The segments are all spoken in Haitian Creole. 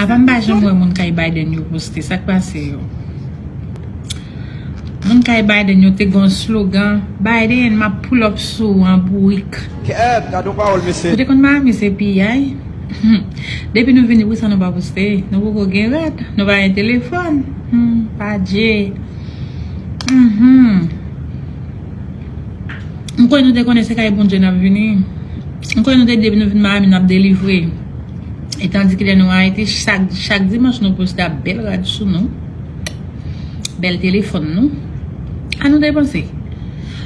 Apa m pa janm wè moun kay Biden yo poste, sak pase yo? Moun kay Biden yo te gen yon slogan, Biden m ap pull up sou ou an bourik. Ou te konn Miami se piyay? Depi nou vini pousa nou pa poste? Nou poko gen rad? Nou pa gen telefòn? Hum, pa dje. Hum hum. M kwè nou te konnen se kay Bondye n ap vini. M kwè nou te di depi nou vin Miami n ap delivre. E tandike lè nou Ayiti, chak dimanch nou poste ap bèl rad sou nou, bèl telefòn nou. A nou depanse.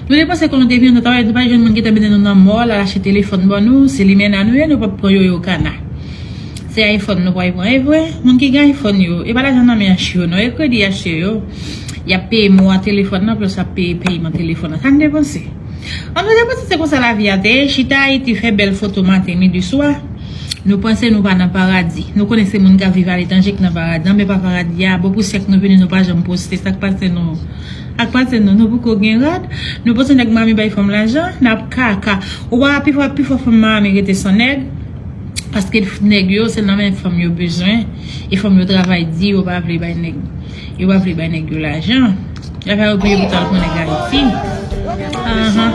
Nou depanse kon nou te vini nan travay, nou pa jwenn moun ki te mennen nou nan mòl al achte telefòn ban nou. Se limena nou ye, nou pap pran yoyo kana. Se iPhone nou pral pran. E vre, moun ki gen iPhone yo, e pa lajan nan men an chyo non, e kredi a chyo yo. Yap peye mou a telefòn nan plos ap peye peyman telefòn nan kan depanse an nou te panse se konsa lavi a te ye chita ayiti fè bèl foto maten midi swa nou panse nou pa nan paradi nou konnen se moun kap viv aletranje ki nan paradi anben pa paradi a bon pou syèk nou vini nou pa janm poste sak pase nou ak pase nou nou poko gen rad nou panse nèg miami bay fanm lajan nap kaka ou pa wè pifò pifò fanm miami rete san nèg paske nèg yo se nan men fanm yo bezwen e fanm yo travay di yo pa vle bay nèg. Yo pa vle bay nèg yo lajan. Lè sa yo touye pou tal pran nèg ayiti. Ahan.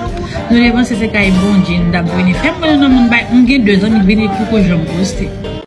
Nou te panse se kay Bondye nou tap vini fè. M konnen nan moun bay. M gen 2 zanmi k vini poko janm poste.